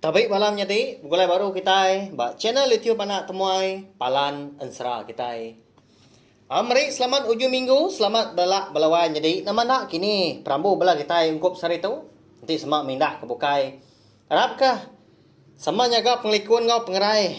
Tabi bala menyadi begulai baru kitai ba channel YouTube anak temuai Palan Ensera kitai. Am meri selamat ujung minggu selamat bela bala wai nyadi nama enda kini perambu bela kitai ungkup sehari tu enti sema mindah ke bukai arap ka sama nyaga pengelikun enggau pengerai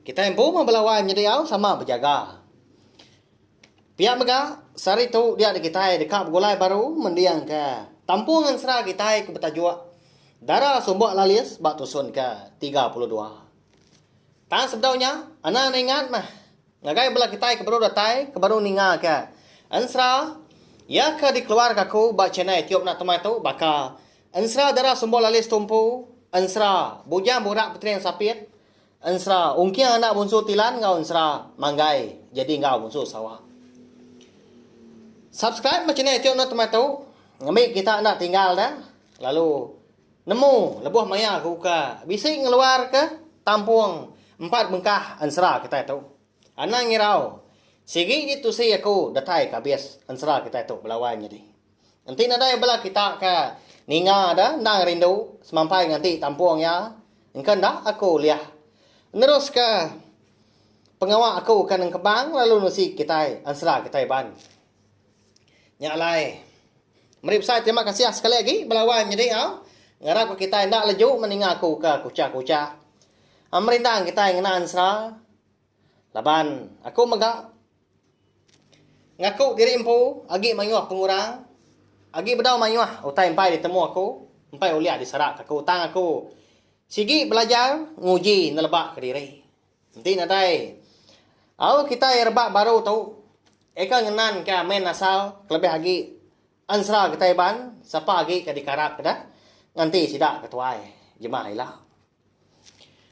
kitai empu mah bala wai menyadi au sama bejaga. Pia mega, sehari tu diatu kitai deka begulai baru mendingka Tampu Ngensera kitai ke betajuk Dara Sumbok Lalis ba tusun ke tiga puluh dua. Tang sebedau nya, anang ningat meh ngagai bala kitai ke baru datai ke baru ningaka ensera iya ke dikeluarka aku ba channel YouTube enda temai tu baka Ensera Dara Sumbok Lalis Tumpu, Ensera Bujang Burak Petering Sapit, Ensra, Ungking anak bunsu Tilan enggau Ensra, Manggai, Jadi enggau bunsu Sarawak. Subscribe ba channel tiu enda temai tu. Ngambi kita enda tinggal dah. Lalu nemu lebuh maya ke buka. Bisi ngeluar ke tampung empat bengkah ensera kita tu. Anang ngirau. Sigi ji tusi aku datai ke abis ensera kita tu belawan nyadi. Enti nadai bela kita ke ninga de endang rindu semampai nganti tampung iya engka enda aku ulih neruska pengawa aku ke nengkebang lalu nusi kitai ensera kitai ban. Nya alai meri besai terima kasih sekali agi belawan nyadi au ngarap ka kitai enda leju meninga aku ke kuchah-kuchah. Merindang kitai ngena ensera. Laban aku mega ngaku diri empu agi mayuh pengurang, agi bedau mayuh utai empai ditemu aku, empai ulih diserakka aku tang aku sigi belajar nguji nelebaka diri. Enti nadai au kitai rebak baru tu eka ngenanka main asal kelebih agi ensera kitai iban sapa agi ke dikarapka deh nganti sida ke tuai jemah ila.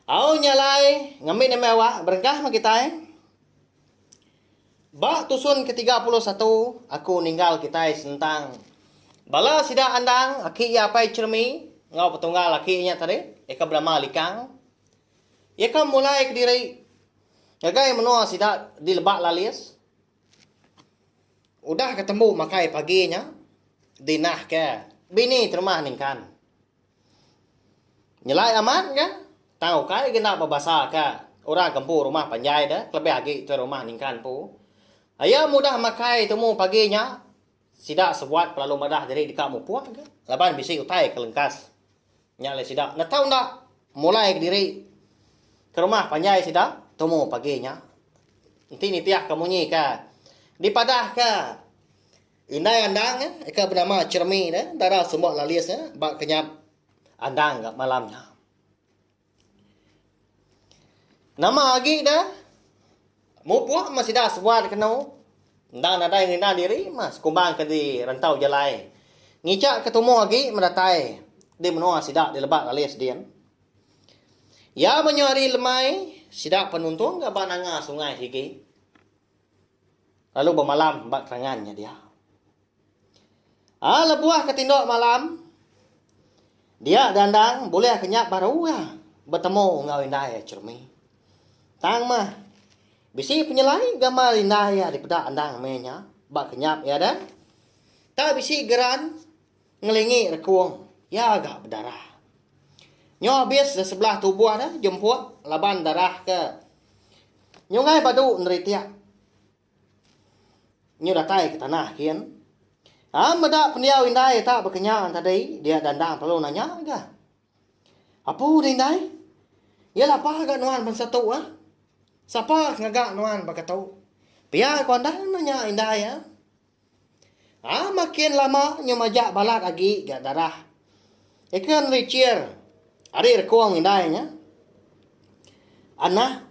Au nya alai ngambi nembiak awak berengkah meh kitai. Ba tusun ke tiga puluh satu aku ninggal kitai sentang bala sida andang aki iya apai Chermi enggau petunggal aki iya nya tadi iya ka benama Likang. Iya ka memulai kediri ngagai menua sida di Lebak Lalis. Udah ka tembu makai pagi nya dinahka bini terumah ningkan. Nyelai amat ga tang ukai ga enda bebasa ka orang ke empu rumah panjai da kelebih agi tuai rumah ningkan empu. Aye mudah makai tumu pagi nya sida sebuat pelalu madah diri deka mupuk ga laban bisi utai ke lengkas. Nya alai sida enda tau enda mulai ga diri ke rumah panjai sida tumu pagi nya. Enti nitih ka munyi ka dipadah ka. Indai Andang ke benama Chermi ne dara sumba lalis ba kenyap Andang ga malam nya. Nama agi da mupuk meh sida sebuah dikenu enda nadai ngerinda diri meh sekumbang ke di rentau jalai ngichak ke tumu agi meh datai di menua sida di lebak lalis din. Iya menyau hari lemai sida penuntung ga ba nanga sungai sigi. Lalu bemalam ba kerangan nya dia. Ah lebuh ke tindok malam, dia Dandang bulih ke nya baru iya betemu enggau indai iya Chermi. Tang mah, bisi penyelai gamal indai iya dipeda endang meh nya ba kenyap iya deh. Tau bisi geran. ngelingi rekung iya ga bedarah. Nyo abis da sebelah tubuh da jemput laban darah ke nyungai badu neritik nyo datai ke tanah gin. Am meda pendiau indai tak bekenya tadi dia da endang perlu nanya ga. Apu da indai? Iya lapa ga nuan bansa tu ah? Sapa ke ngaga nuan baka tu? Pia ku andan nanya indai ah. Haa makin lama nyau majak balat agi ga darah. Eka meri cheer ari rekong indai nya. Anah,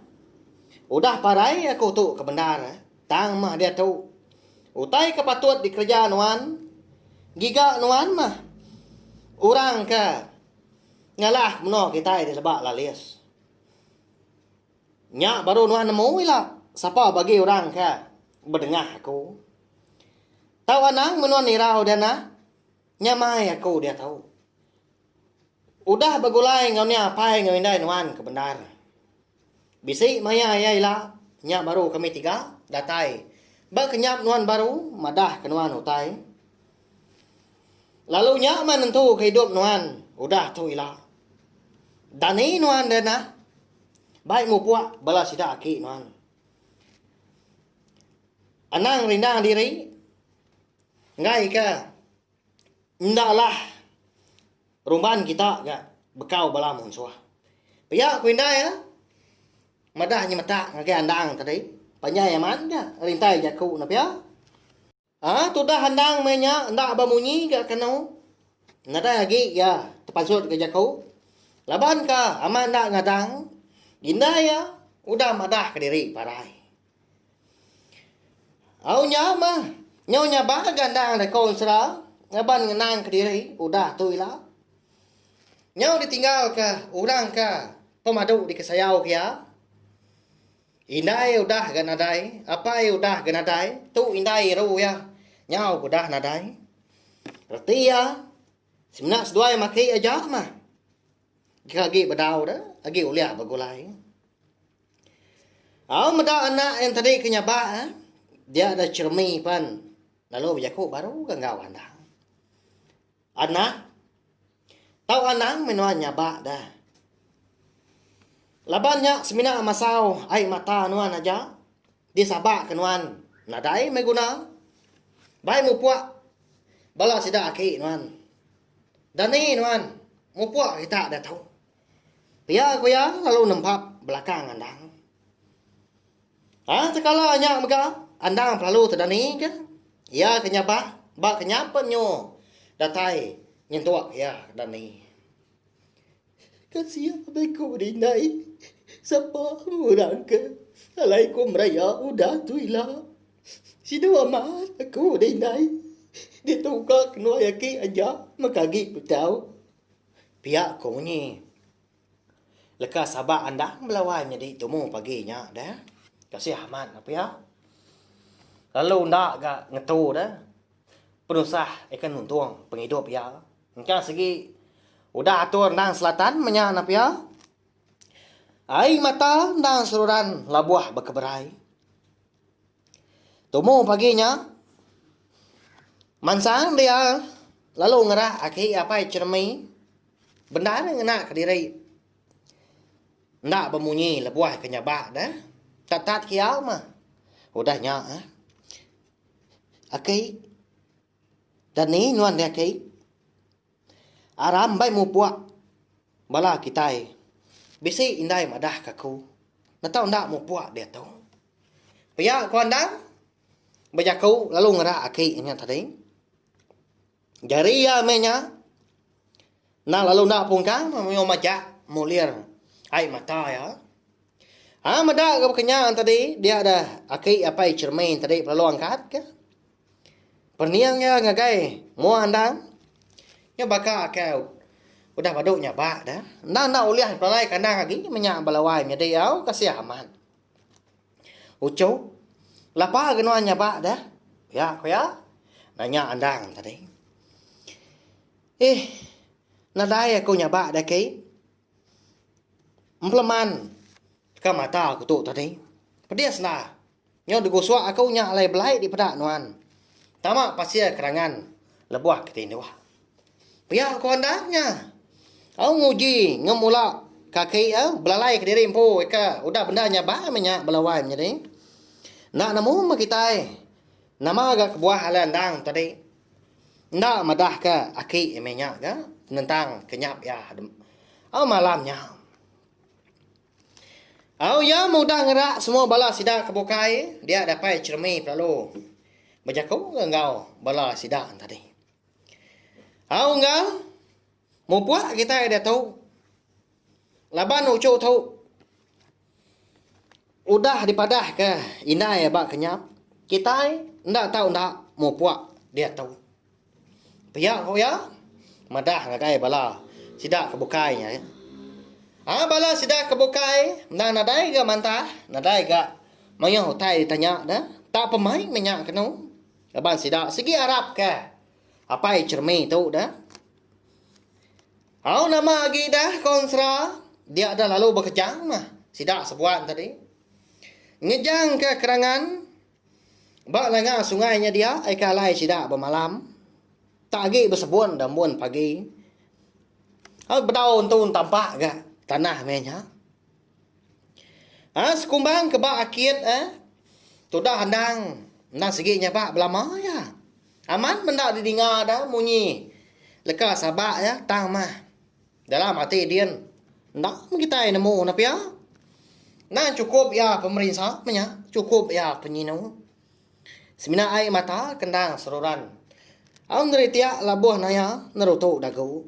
udah parai aku tu ke bendar eh. Tang mah diatu. Utai ke patut dikereja nuan. Giga nuan mah orang ke ngalah ke menua kitai ti leba lalis. Nya baru nuan nemu ila sapa bagi orang ke bedengah aku. Tau anang men nuan nirau dia nah. Nyamai aku diatu. Udah begulai enggau nya apai enggau indai nuan ke bendar. Bisi maya iya ila, nya baru kami tiga datai ba kenyap nuan baru madah ke nuan utai. Lalu nya mah nentuka idup nuan udah tu ila. Dani nuan dia nah. Bai mupuk bala sida aki nuan. Anang rindang diri enggaika enda lah rumban kita ga bekau bala munsuh. Pia ku indai iya madah nyemetak ngagai andang tadi, panjai amat ga rintai jaku ne pia. A tudah endang meh nya enda bemunyi ga kenu. Nadai agi iya tepansut ga jaku. Laban ka amat enda ngadang, dinda iya udah madah ka diri parai. Au nya meh nyau nyaba ga endang dako ensera ngaban ngenang ka diri udah tu ila. Nyau ditinggal ka orang ka pemadu dikesayau ka iya. Indai udah ga nadai, apai udah ga nadai, tu indai iru iya, nyau ga udah nadai. Reti iya, semina seduai mati aja mah. Jika agi bedau da, agi ulih begulai. Au meda anak yang tadi ke nyabak eh, dia da ceremi pan lalu bejaku baru ga enggau andang. Anang. Tau anang meh nuan nyaba da. Laban nya semina masau ai mata nuan aja disabaka nuan nadai meh guna. Bai mupuk bala sida aki nuan. Dani nuan mupuk kita diatu. Pia ku iya lalu nempap belakang anang. Tang tekala nya mega andang pelalu tedani ke iya ke nyabah ba ke nya pen nyu datai nyentuk iya ke dani. Kasiya abei ku dindai sapa orang ke alai ku meraya udah tu ila. Sida amat aku dindai ditu ka kenuai aki aja mega agi betau pia ku munyi. Leka sabak andang belawan nyadi tumu pagi nya deh. Kasih amat mah pia. Lalu enda ga ngetu deh. Penusah ikan muntung pengidup iya. Engka sigi udah atur endang selatan meh nya nah pia. Ai mata endang seruran labuh bekeberai. Tumu pagi nya mansang dia lalu ngerak aki apai ceremie. Bendar nya ngena kediri enda bemunyi lebuh ke nyabak deh. Tatat kiau mah udah nya eh. Aki. Dani nuan deh aki. Aram mbai mupuk bala kitai. Bisi indai madah ke aku. Netau enda mupuk diatu. Pia ku Andang bejaku lalu ngerak aki nya tadi. Jari iya meh nya enda lalu enda pungkang mayuh majak mulir ai mata iya. Ai meda ke baka nya tadi dia deh aki apai Chermaine tadi belalu angkat ke pening iya ngagai mua endang nya baka ke udah badu nyabak deh. Endang enda ulih pelalai kandang agi meh nya ba lawai nyadi au kasih amat. Uchu, Lapa ga nuan nyaba deh? Pia ku iya nanya Andang tadi. Eeh, nadai aku nyaba deh ki. Empeleman ka mata aku tu tadi. Pedis enda. Nyau degusok aku nya alai belai dipeda nuan. Tama pasir kerangan lebuh kitai indu. Pia ku andak nya. Au nguji ngemula kaki iya belalai kediri empu ika udah bendar nyabai meh nya bala wai menyadi. Enda nemu meh kitai nama ga kebuah alai endang tadi. Enda madah ka aki meh nya ga penentang ke nyap iya au malam nya. Au iya meh udah ngerak semua bala sida ke bukai dia dapai ceremik lalu bejaku enggau bala sida tadi. Au enggau mupuk kitai diatu laban uchu tu udah dipadahka indai ba kinyap kitai enda tau enda mupuk diatu. Pia ku iya madah ngagai bala sida ke bukai nya. Au bala sida ke bukai enda nadai ga mantah nadai ga mayuh utai ditanya ne tang pemain nya kenu. Laban sida sigi arapka apai Chermi tu da. Au nama agi da konsra dia da lalu bekejang mah sida sebuan tadi. Ngejangka kerangan ba langa sungai nya dia aika alai sida bemalam. Tak agi besebun da umbun pagi. Au bedau entu tampak ga tanah meh nya. Aa sekumbang ke ba akit e tudah endang endang sigi nyabak belama iya. Amat menda didinga da munyi leka sabak iya tang mah dalam ati din enda meh kitai nemu ne pia. Endang chukup iya pemerinsa meh nya, chukup iya penyinu. Semina ai mata kendang seruran. Au ngeri tiak labuh naya nerutu dagu.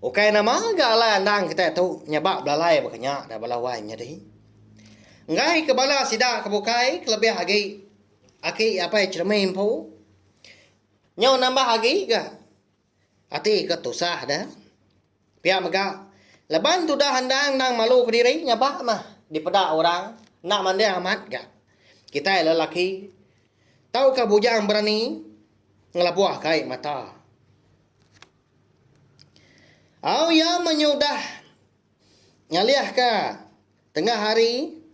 Ukai nama ga alai andang kitai tu nyabak belalai baka nya da bala wai nyadi. Enggai ke bala sida ke bukai kelebih agi aki apai Cheremie empu. Nyau nambah agi ga. Ati ke tusah da. Pia mega laban tudah endang endang malu kediri ngaba mah dipeda orang enda manding amat ga. Kitai lelaki tauka bujang berani ngelabuh ka ai mata. Au iya menyudah ngalih ka tengah hari.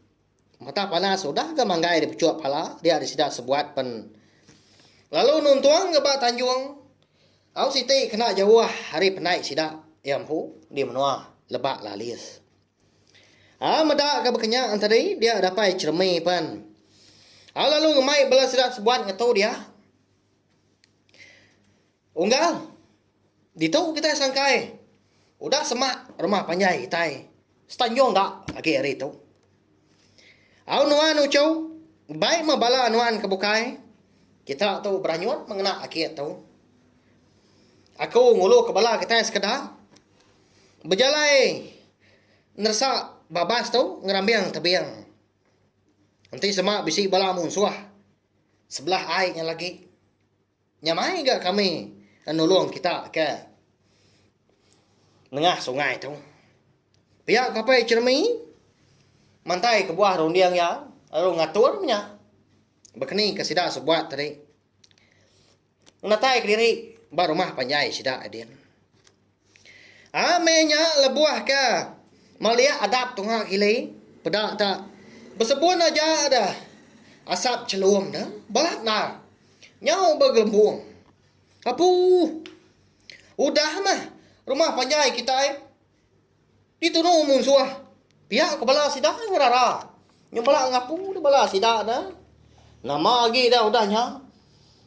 Mata panas udah ga manggai dipechuk pala dia disida sebuat pen lalu nuntung ga ba tanjung au siti kena jauh ari penai sida iya empu di menua Lebak Lalis. Au meda ga bekenya enteri dia dapai cheremi pen au lalu ngemai bala sida sebuat ngetu dia. Unggal ditu kitai sangkai udah semak rumah panjai kitai setanjung ga agi hari tu. Au nuan uchu bai meh bala nuan ke bukai kita tu beranyut meh ngena aki tu. Aku ngulu ke bala kitai sekeda bejalai neresa babas tu ngerambing tebing. Enti sema bisi bala munsuh sebelah ai nya lagi. Nya mai ga kami nulung kita ke nengah sungai tu. Pia ku apai Cheremy mantai kebuah runding iya lalu ngatur nya bekeni ke sida sebuat tadi ngenataika diri ba rumah panjai sida Edin. Aa meh nya lebuh ke meliak adap tunga kili peda ta besebun aja deh asap chelum ne balat ndar nyau begelembung apuuh udah meh rumah panjai kitai di tunu munsuh pia ko bala sida ngerara nyau bala ngapu de bala sida ne nama agi udah nya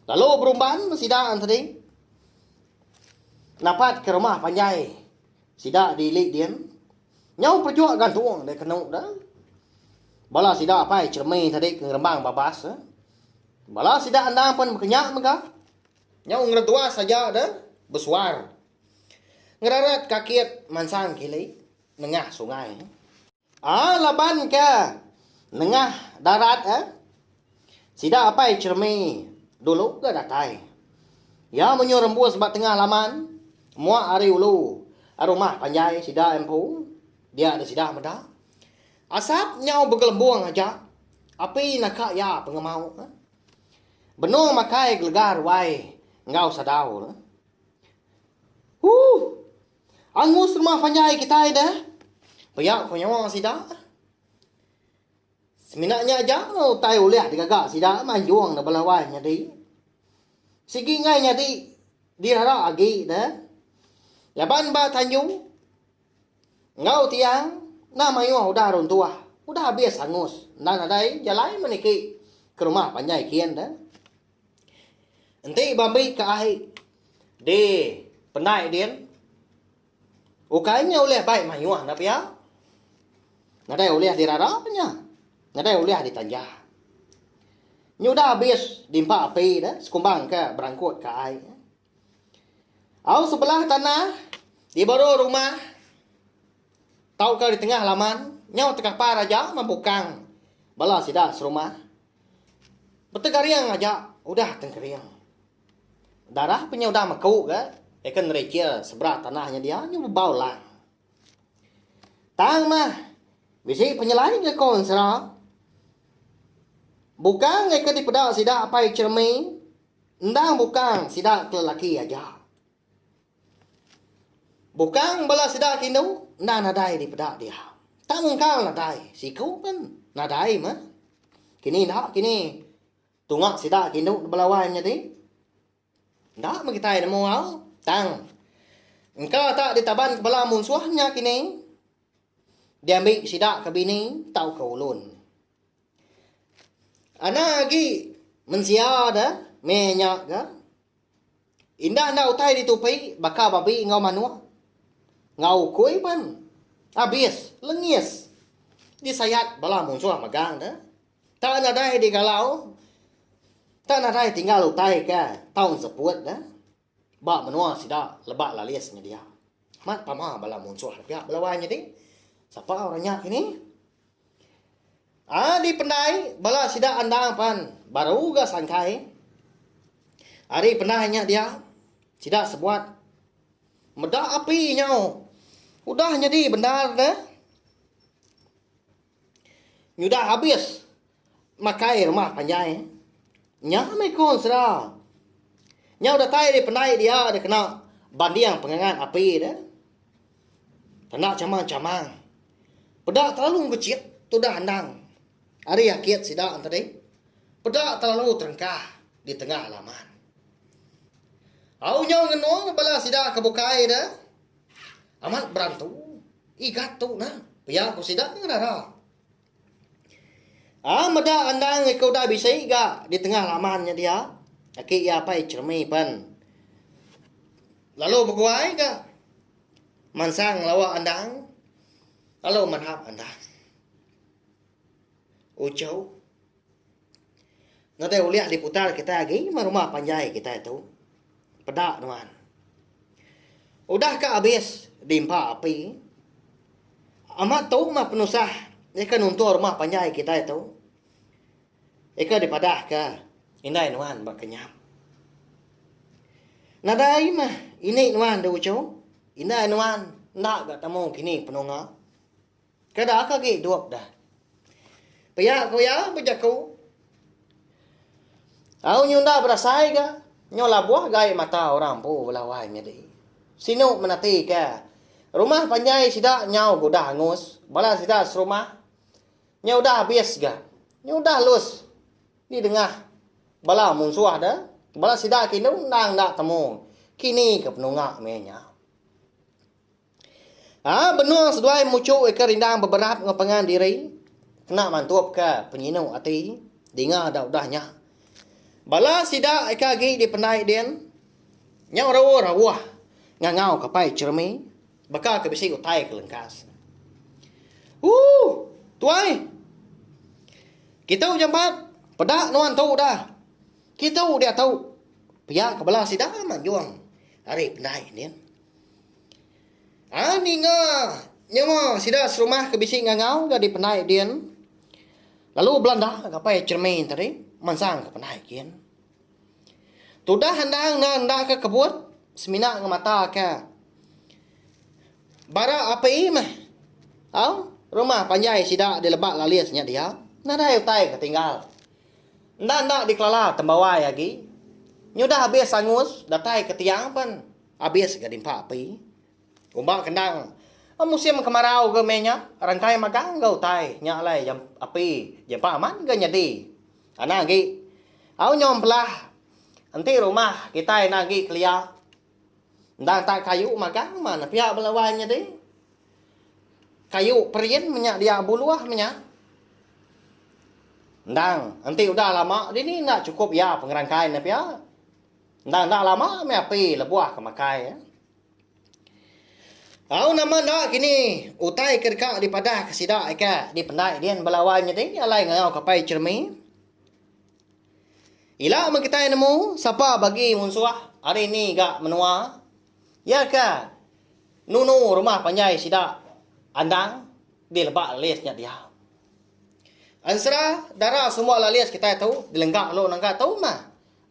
lalu berumban sida tadi. Napat ke rumah panjai sida di ili din. Nyau perejuk gantung dek kenu da. Bala sida apai Cheremie tadi ke ngerembang babas. Bala sida endang pen bekenya mega. Nyau ngeretuas aja da besuar. Ngerarat ka kit mansang kili nengah sungai. Aa laban ke nengah darat eh, sida apai Chermi dulu ga datai. Iya menyuh rembus ba tengah laman muak ari ulu rumah panjai sida empu dia da sida meda. Asap nyau begelembung aja api naka iya pengemau eh. Benung makai gelega ruai enggau sadau eh. Huh. Angus rumah panjai kitai deh. Pia ku nyawa sida. Semina nya aja utai ulih digaga sida manjung da bala wai nyadi. Sigi enggai nyadi dirara agi deh. Laban ba tanju enggau tiang nah mayuh udah runtuh, udah abis angus enda nadai jalai meh niki ke rumah panjai kian deh. Enti ba meri ke ai di penai din ukai nya ulih bai mayuh enda pia. Nadai ulih dirara nya. Nadai ulih ditanja. Nyudah abis dimpa api ne sekumbang ke berangkut ke ai. Au sebelah tanah di baru rumah tauka di tengah laman nyau tekapar aja mempukang bala sida serumah. Betegering aja udah tengkering. Darah pe nya udah meku ga eka nerichil sebra tanah nya dia nya bebau lang. Tang mah bisi penyelai nyekul ensera. Bukang eka dipeda sida apai Chermy endang bukang sida ke lelaki aja. Bukang bala sida ke indu enda nadai dipeda dia. Tang engkau nadai siku pen nadai meh. Kini enda kini tunga sida ke indu ba bala wai nyadi enda meh kitai nemu au tang engka tak ditaban ke bala munsuh nya kini diambi sida ke bini tauka ulun. Anang agi mensia da meh nya ga indah enda utai ditupi baka babi enggau manok enggau ukui pen abis lengis disayat bala munsuh megang da tak nadai digalau tak nadai tinggal utai ka tau seput da. Ba menua sida lebak lalis nyedia amat pama bala munsuh pia belawai nyadi sapa orang nya kini. Ai dipendai bala sida endang pan baru ga sangkai. Ari pendai nya dia sida sebuat meda api nyau udah nyadi bendar neh. Nyudah habis makai rumah panjai. Nya meh ku ensera. Nyau datai ari pendai dia deh kena banding pengangat api deh. Tanda chamang-chamang. Peda telalu bechit tudah endang ari akit sida tadi. Peda telalu terengkah di tengah laman. Au nyau ngenung bala sida ke bukai deh. Amat berantu, igat tu nah, pia ku sida ngenara. Ah meda endang iku udah bisi ga di tengah laman nya dia, aki iya apai Chermi pen lalu beguai ga mansang ngelawa endang lalu manap endang. Uchu Ngagai ulih ahli putar kitai agi nyema rumah panjai kitai tu peda nuan. Udah ka abis di empa api amat tu mah penusah nyeka nuntung rumah panjai kitai tu ika dipadahka indai nuan ba kenyam. Nadai mah ini nuan di ujung indai nuan enda ga temu kini penunga. Kada ka agi dup dah. Pia ku iya bejaku. Au nyu enda berasai ga, nyu labuh gai mata orang empu bela wai nyadi. Sinu menati ka, rumah panjai sida nyau ke udah angus, bala sida serumah nya udah abis ga. Nya udah lus di dengah bala munsuh da, bala sida ke indu endang enda temu kini ke penunga meh nya. Haa benung seduai muchu ika rindang beberat enggau pengan diri kena mantupka penyinu ati dinga da udah nya. Bala sida ika agi dipendai din nyau raul rauh ngangau ka pai Jeremy baka ke bisi utai ke lengkas. Ooh tuai. Kitu jampat peda nuan tu dah. Kitu diatu pia ke bala sida manjung ari pendai din. Ai ninga nyawa sida serumah ke bisi ngangau nyadi penai din lalu belanda ngapai cermin tadi mansang ke penai gin. Tudah endang ne enda ke kebut semina ngemata ke bara api meh au rumah panjai sida dileba lalis nya dia nadai utai ke tinggal. Enda enda dikelala tembawai agi nyudah abis angus datai ke tiang pen. Abis ga dimpa api. Kumba kendang musim kemarau ga meh nya rangkai magang enggau utai nya alai jam api jampa amat ga nyadi. Anang agi au nyom belah enti rumah kitai enda agi kelia endang tak kayu magang mana pia bala wai nyadi. Kayu perin meh nya dia buluh meh nya. Endang enti udah lama dini enda chukup iya pengerangkai nya pia. Enda enda lama meh api lebuh ke makai iya. Au nama enda kini utai ke deka dipadah ke sida ika dipendai din bala wai nyadi alai ngau ke apai Chermi. Ila meh kitai nemu sapa bagi munsuh hari ni ga menua iya ke nunu rumah panjai sida andang di lebak lalis nya diau. Ensera dara semua lalis kitai tu dilengga lalu nengga tu meh.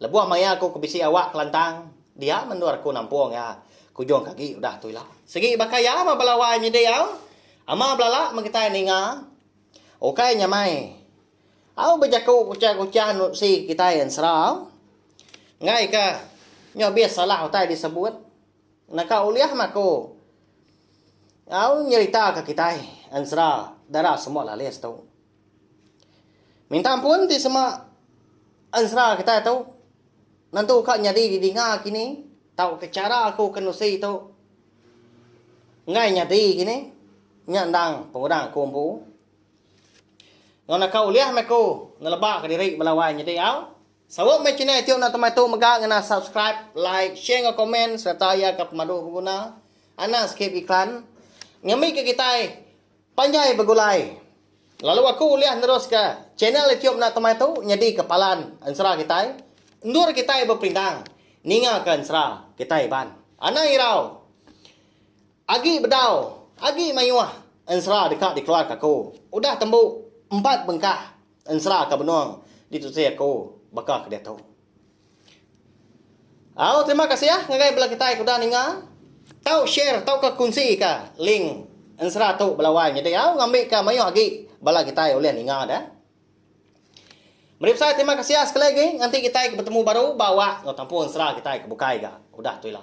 Lebuh maya aku ke bisi awak kelantang, dia mendur aku nampung iya ke ujung kagi udah tu ila. Sigi baka iya meh bala wai nyidi au, ama belala megetai ninga, ukai nyamai au bejaku kuchah-kuchah nusi kitai ensera au. Enggai ka nyo bih salah utai disebut, naka ulih meh aku au nyeritaka kitai ensera dara semua lalis tu. Minta ampun ti sema ensera kitai tu nentu ka nyadi didinga kini tauka chara aku ke nusi tu enggai nyadi kini nya endang pengudang aku empu ngau naka ulih mih aku neleba ka diri bala wai nyadi au. Sawa mih channel tu enda temai tu mega ngena subscribe like share enggau komen sereta iya ka pemadu beguna anang skip iklan ngambika kitai Panjai begulai. Lalu aku ulih neruska channel ityub enda temai tu nyedika palan ensera kitai. Endur kitai beperindang ningaka ensera kitai iban. Anang irau. Agi bedau, agi mayuh ensera deka dikeluarka aku. Udah tembu empat bengkah ensera ke benung ditusi aku baka ke diatu. Au terima kasih ah ngagai bala kitai ke udah ninga. Tau share tauka kunsika link ensera tu bala wai nyadi au ngambika mayuh agi bala kitai ulih ninga ne. Meri besai terima kasih sekali agi ngenti kitai ke betemu baru ba awak enggau tampu ensera kitai ke bukai ga udah tu ila.